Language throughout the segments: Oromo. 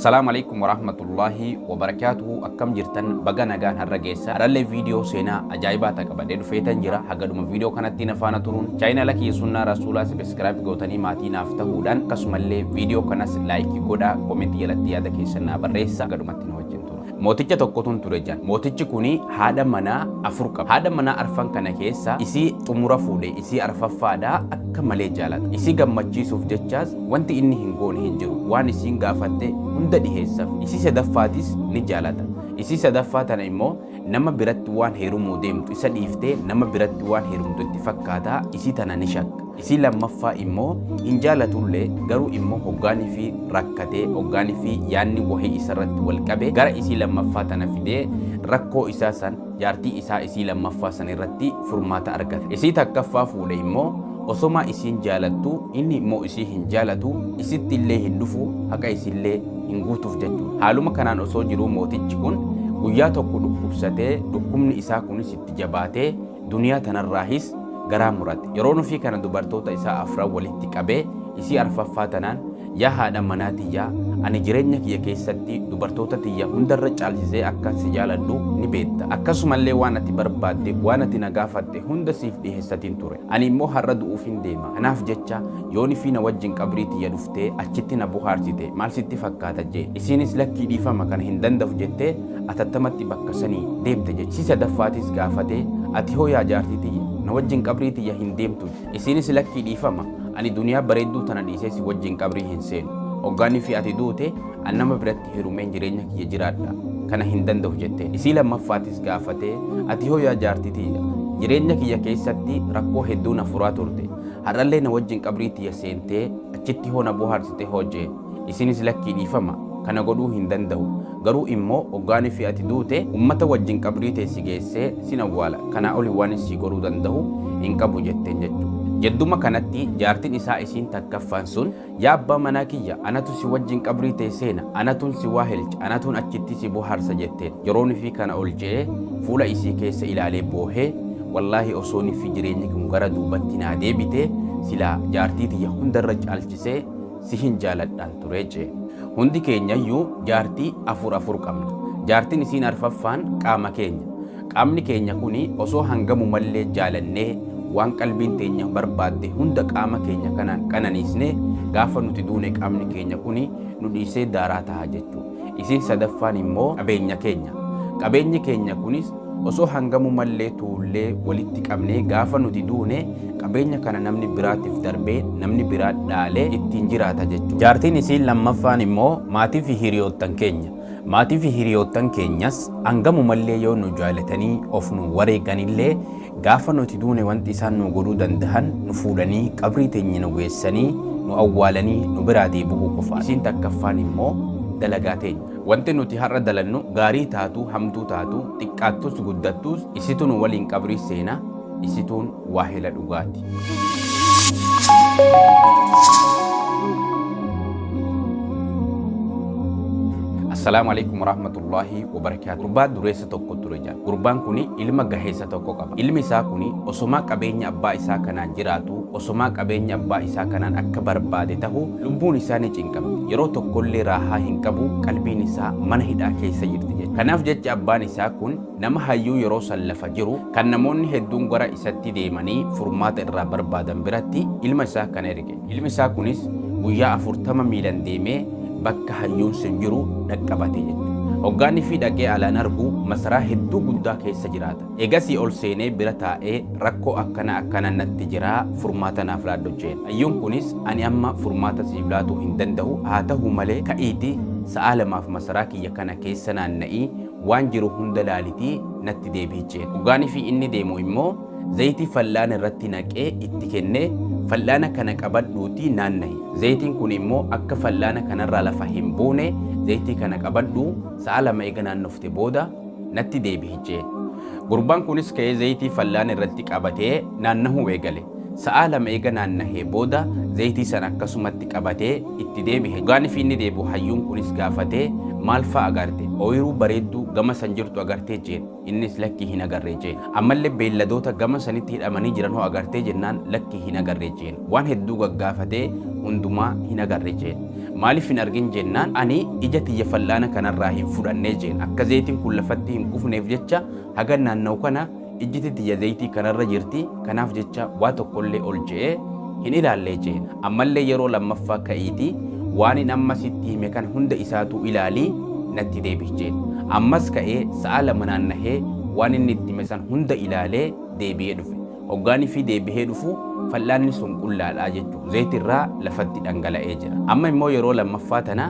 Salaam alaikum warahmatullahi wabarakatuhu akkam jirtan baga nagaan har'a geessa har'allee viidiyoo seenaa ajaa'ibaa ta'a qabadhee dhufeetan jira hagaduma viidiyoo kanatti na faana turuun chaayinala kiyya sunnaa rasuulaa sabiskiraayib gootanii maatii naaf ta'uudhaan akkasumallee viidiyoo kanas laayikii godhaa komentii jalatti yaada keessan naa barreessa hagadumatti na wajjin tura. Mooticha tokkotun ture jan. Mootichi kuni haadha manaa afur qaba. Haadha manaa arfan kana keessa isii xumura fuudhe isii arfaffaadha akka malee jaalata. Isii gammachiisuuf jechaas wanti inni hin goone hin jiru. Waan isiin gaafatte hunda dhiheessaf. Isii sadaffaatis ni jaalata. Isii sadaffaa tana immoo nama biratti waan heerumuu deemtu isa dhiiftee nama biratti waan heerumtu itti fakkaata isii tana ni shakka. Isii lammaffaa immoo hin jaalatullee garuu immoo hoggaanifi rakkatee hoggaanifi yaanni wahii isarratti wal qabe gara isii lammaffaa tana fidee rakkoo isaa san jaartii isaa isii lammaffaa san irratti furmaata argata. Isii takkaffaa fuudhe immoo osomaa isiin jaalattuu inni immoo isii hin jaalatu isitti illee hin dhufu haqa isiillee hin guutuuf jechuudha. Haaluma kanaan osoo jiruu mootichi kun guyyaa tokko dhukkubsatee dhukkubni isaa kunis itti jabaatee Duniyaa tanarraahis garaa murate. Yeroo nufii kana dubartoota isaa afran walitti qabee isii arfaffaa tanaan Yaa haadha manaa tiyya ani jireenya kiyya keessatti dubartoota tiyya hundarra caalsisee akkan si jaaladhu ni beetta. Akkasumallee waan ati barbaadde waan ati na gaafatte hunda siif dhiheessatin ture. Ani immoo har'a du'uufin deema. Kanaaf jecha yoo nifii na wajjin qabrii tiyya dhuftee achitti na bohaarsite maal sitti fakkaata jeen. Isiinis lakkii dhiifama kana hin dandahu jettee atattamatti bakka sanii deemta jedhe. Si sadaffaatiis gaafatee, Ati hoo yaa jaartii tiyya, na wajjin qabrii tiyya hin deemtuu? jedhe. Isiinis Lakkii dhiifama, ani duniyaa bareedduu tana dhiisee si wajjin qabrii hin seenu. Oggaanii fi ati duute, an nama biratti herumeen jireenya kiyya jiraadha. Kana hin danda'u jetteen. Isii lammaffaatis gaafatee, Ati hoo yaa jaartii tiyya, jireenya kiyya keessatti rakkoo hedduu na furaa turte. Har'allee na wajjin qabrii tiyya seentee, achitti hoo na bohaarsite hoo? jedhe. Isinis lakkii dhiifama kana godhuu hin danda'u garuu immoo oggaani fi ati duute ummata wajjin qabrii tee si geessee sin awwaala kanaa oli waanin sii godhuu danda'u hin qabu jetteen jechu. Jedduma kanatti jaartin isaa isiin takkaffaan sun yaa abbaa manaa kiyya anatu si wajjin qabrii tee seena anatun si waahelcha anatun achitti si bohaarsa jetteen yeroo nifii kana ol je'ee fuula isii keessa ilaalee boohee wallaahi osoo niffi jireenyi kun gara duubatti naa deebite silaa jaartii tiyya hundarra caalchisee sihin jaaladhaan ture jee. Hundi keenyayyuu jaartii afur afur qabna. Jaartin isiin arfaffaan qaama keenya. Qaamni keenya kuni osoo hangamumallee jaalannee waan qalbiin teenya barbaadde hunda qaama keenya kanaan qananiisne gaafa nuti duune qaamni keenya kuni nu dhiisee daaraa taha jechuudha. Isiin sadaffaan immoo qabeenya keenya. Qabeenyi keenya kunis osoo hangamu mallee tuullee walitti qabnee gaafa nuti duune qabeenya kana namni biraatiif darbee namni biraa dhaalee ittiin jiraata jechuudha. Jaartiin isiin lammaffaan immoo maatii fi hiriyoottan keenya. Maatii fi hiriyoottan keenyas hangamu mallee yoo nu jaalatanii of nu wareeganillee Gaafa nuti duune wanti isaan nuu godhuu dandahan nu fuudhanii qabrii teenya nu geessanii nu awwaalanii nu biraa deebi'uu qofaadha. Isiin takkaffaan immoo dalagaa teenya. Wanti nuti har'a dalannu gaarii taatuu hamtuu taatuu xiqqaattus guddattuus isitu nu waliin qabrii seena isituun waahela dhugaati. Assalaamu alaikum warahmatullaahi wabarakaatuh. Gurbaa dureessa gurraacha tokko ture jedha. Gurbaan kun ilma gaheessa tokko qaba. Ilmi isaa kun osomaa qabeenya abbaa isaa kanaan jiraatu, osomaa qabeenya abbaa isaa kanaan akka barbaade tahu lubbuun isaa ni cinqamti. Yeroo tokkollee raahaa hin qabu, qalbiin isaa mana hidhaa keessa jirti jecha. Kanaaf jecha abbaan isaa kun nama hayyuu yeroo san lafa jiru kan namoonni hedduun gara isatti deemanii furmaata irraa barbaadan biratti ilma isaa kana erge. Ilmi isaa kunis guyyaa afurtama miilan deemee bakka hayyuun sun jiru dhaqqabate jette. Hoggaanii fi dhaqee alaan argu masaraa hedduu guddaa keessa jiraata. Egasii ol seenee bira taa'ee rakkoo akkana akkana natti jira furmaata naaf laadhu jeen. Hayyuun kunis ani amma furmaata siif laatuu hin danda'u haa ta'u malee ka'iiti sa'aa lamaaf masaraa kiyya kana keessa naanna'ii waan jiru hunda laalitii natti deebi'i jeen. Hoggaanii fi inni deemu immoo Zayitii fal'aana irratti naqee itti kennee, Fal'aana kana qabadhuutii naanna'i. Zayitiin kun immoo akka fal'aana kanarraa lafa hin buune zayitii kana qabadhuu sa'a lama eega naannofte booda natti deebi'i jeen. Gurbaan kunis ka'ee zayitii fal'aana irratti qabatee naannahuu eegale. Sa'a lama eega naannahee booda zayitii sana akkasumatti qabatee itti deebi'e. Gaanifi inni deebi'u hayyuun kunis gaafatee, Maal fa'a agarte? Ooyiruu bareedduu gama san jirtu agartee? jeen. Innis lakki hin agarre jeen. Ammalle beelladoota gama sanitti hidhamanii jiran hoo agartee jennaan lakki hin agarre jeen. Waan hedduu gaggaafatee hundumaa hin agarre jeen. Maaliif hin argin jennaan ani ija tiyya fal'aana kanarraa hin fudhanne jeen. Akka zeeytiin kun lafatti hin kufneef jecha hagan naanna'u kana ijjiti tiyya zeeytii kanarra jirti kanaaf jecha waa tokkollee ol je'ee hin ilaallee jeen. Ammallee yeroo lammaffaa ka'iitii waanin amma sitti hime kana hunda isaatuu ilaalii natti deebi'i jeen. Ammas ka'ee sa'a lama naannahee waan inni itti hime san hunda ilaalee deebi'ee dhufe. Hoggaanifii deebihee dhufu fal'aanni sun qullaadha jechuun zaytirraa lafatti dhangala'ee jira. Amma immoo yeroo lammaffaa tana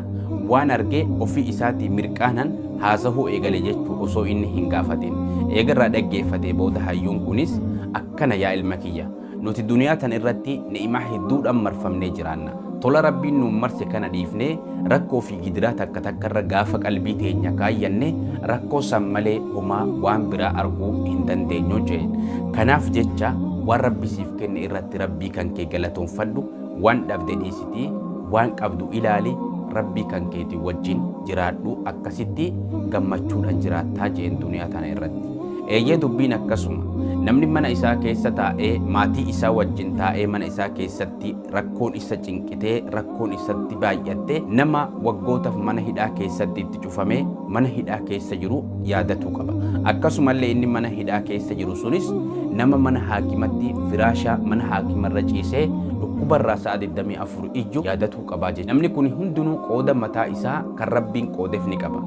waan arge ofii isaatii mirqaanan haasahuu eegale jechuun osoo inni hin gaafatin. Eegarraa dhaggeeffatee booda hayyuun kunis akkana yaa ilma kiyya. Nuti duniyaa tana irratti ni'imaa hedduudhaan marfamnee jiraanna. Tola Rabbiin nuun marse kana dhiifnee rakkoo fi gidiraa takka takka irra gaafa qalbii teenya kaayyanne rakkoo san malee homaa waan biraa arguu hin dandeenyu jeen. Kanaaf jecha waan Rabbi siif kenne irratti Rabbii kan kee galatoonfadhu, waan dhabde dhiisitii waan qabdu ilaali, Rabbii kan keetii wajjin jiraadhu akkasitti gammachuudhaan jiraattaa jeen duniyaa tana irratti. Eeyyee dubbiin akkasuma. Namni mana isaa keessa taa'ee maatii isaa wajjin taa'ee mana isaa keessatti rakkoon isa cinqitee rakkoon isatti baay'atte nama waggootaaf mana hidhaa keessatti itti cufamee mana hidhaa keessa jiru yaadatuu qaba. Akkasumallee inni mana hidhaa keessa jiru sunis nama mana haakimatti firaashaa mana haakimarra ciisee dhukkubarraa sa'a 24 ijju yaadatuu qabaa jechuudha. Namni kun hundinuu qooda mataa isaa kan rabbiin qoodeef ni qaba.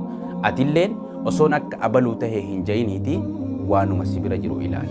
Atilleen Osoon akka abaluu tahe hin ja'iniitii waanuma si bira jiru ilaali.